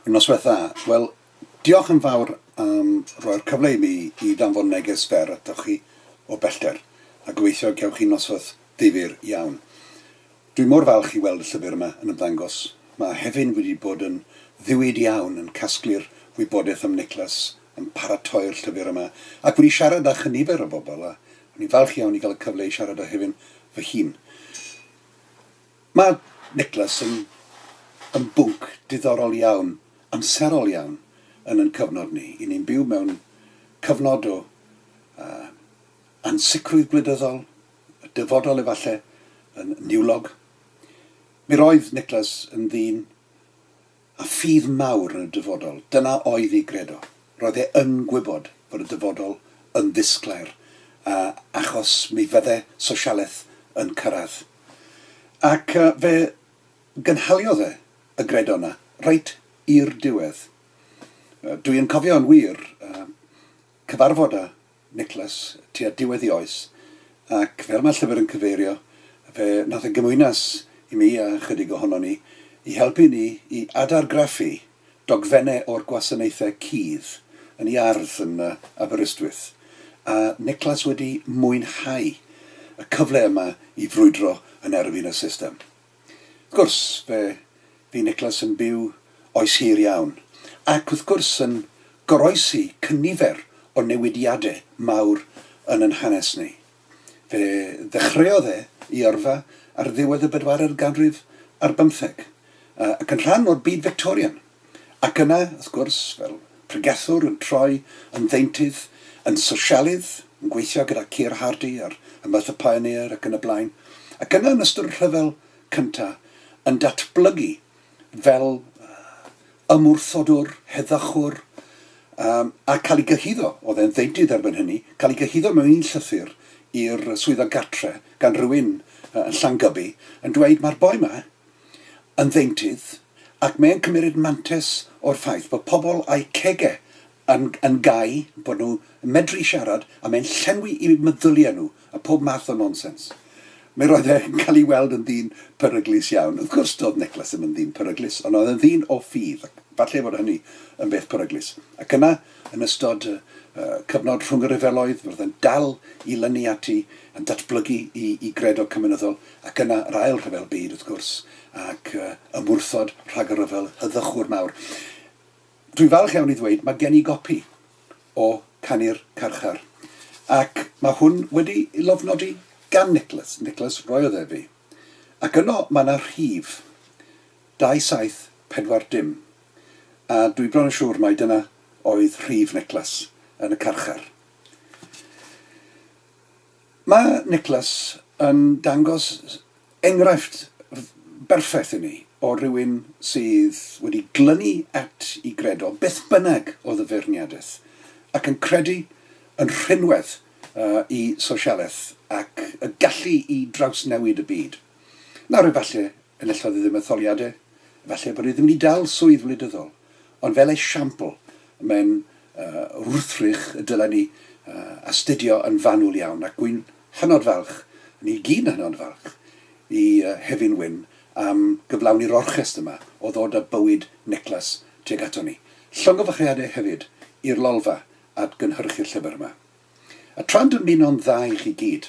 Yr noswaith dda. Wel, diolch yn fawr am roi'r cyfle i mi i ddanfon neges fer atoch chi o bellter, a gobeithio y gewch chi noswaith ddifyr iawn. Dwi mor falch i weld y llyfr yma yn ymddangos. Mae Hefin wedi bod yn ddiwyd iawn yn casglu'r wybodaeth am Niclas, yn paratoi'r llyfr yma, ac wedi siarad â chynifer o bobl, a o'n i'n falch iawn i gael y cyfle i siarad â Hefin fy hun. Mae Niclas yn yn bwnc diddorol iawn, amserol iawn yn yn cyfnod ni. I ni'n byw mewn cyfnod o uh, ansicrwydd gwleidyddol, dyfodol efallai, yn niwlog. Mi roedd Niclas yn ddyn A ffydd mawr yn y dyfodol, dyna oedd ei gredo. Roedd e yn gwybod fod y dyfodol yn ddisglair, a achos mi fydde sosialaeth yn cyrraedd. Ac fe gynhaliodd e y gredo yna reit i'r diwedd. Dwi yn cofio yn wir cyfarfod â Nicholas, tua diwedd ei oes, ac fel mae'r llyfr yn cyfeirio, fe wnaeth y gymwynas i mi a chydig ohonon ni i helpu ni i adargraffu dogfennau o'r gwasanaethau cudd yn iard yn Aberystwyth, a Nicholas wedi mwynhau y cyfle yma i frwydro yn erbyn y system. Wrth gwrs, fe fu Nicholas yn byw oes hir iawn, ac wrth gwrs yn goroesi cynifer o newidiade mawr yn yn hanes ni. Fe ddechreuodd e 'i yrfa ar ddiwedd y bedwaredd ganrif ar bymtheg, ac yn rhan o'r byd Fictorian. Ac yna, wrth gwrs, fel pregethwr yn troi yn ddeintydd, yn sosialydd, yn gweithio gyda Keir Hardie ar Y Merthyr Pioneer ac yn y blaen, ac yna yn ystod y Rhyfel Cyntaf yn datblygu fel ymwrthodwr, heddychwr, yym, a cael ei gyhuddo, oedd e'n ddeintydd erbyn hynny, cael ei gyhuddo mewn un llythyr i'r Swyddog Gartre gan rywun yn Llangybi yn dweud, 'Mae'r boi 'ma, yn ddeintydd ac mae'n cymmeryd mantes o'r ffaith bod pobl a'u cegau yn yn gau, bod nhw yn medru siarad a mae'n llenwi eu meddyliau nhw a pob math o nonsens. Mi roedd e yn cael ei weld yn ddyn peryglus iawn. Wrth gwrs doedd Niclas ddim yn ddyn peryglus ond oedd e'n ddyn o ffydd ac falle fod hynny yn beth peryglus. Ac yna, yn ystod y y cyfnod rhwng y rhyfeloedd, roedd e'n dal i lynu ati, yn datblygu i i gredo cymunedol. Ac yna yr ail rhyfel byd, wrth gwrs, ac ymwrthod rhag y rhyfel hyddychwr mawr. Dwi'n falch iawn i ddweud, mae gen i gopi o Canu'r Carchar, ac mae hwn wedi ei lofnodi gan Nicholas, Nicholas roiodd e fi, ac yno mae yna rhif 2740, dim, a dwi bron yn siŵr mai dyna oedd rhif Nicholas yn y carchar. Mae Niklas yn dangos enghraifft berffaith i ni o rywun sydd wedi glynu at i gredo beth bynnag oedd y feirniadaeth, ac yn credu yn rhinwedd i sosialaeth ac y gallu i drawsnewid y byd. Nawr, efallai, enillodd hi ddim etholiadau, efallai bod hi ddim wedi dal swydd wleidyddol, ond fel esiampl, mae'n wrthrych y dylai ni astudio yn fanwl iawn, ac wy'n hynod falch, ni i gyd yn hynod falch, i Hefin Wyn am gyflawni'r orchest yma o ddod â bywyd Niclas tuag aton ni. Llongyfarchiadau hefyd i'r Lolfa at gynhyrchu'r llyfr yma. A tra'n dymuno'n dda i chi gyd,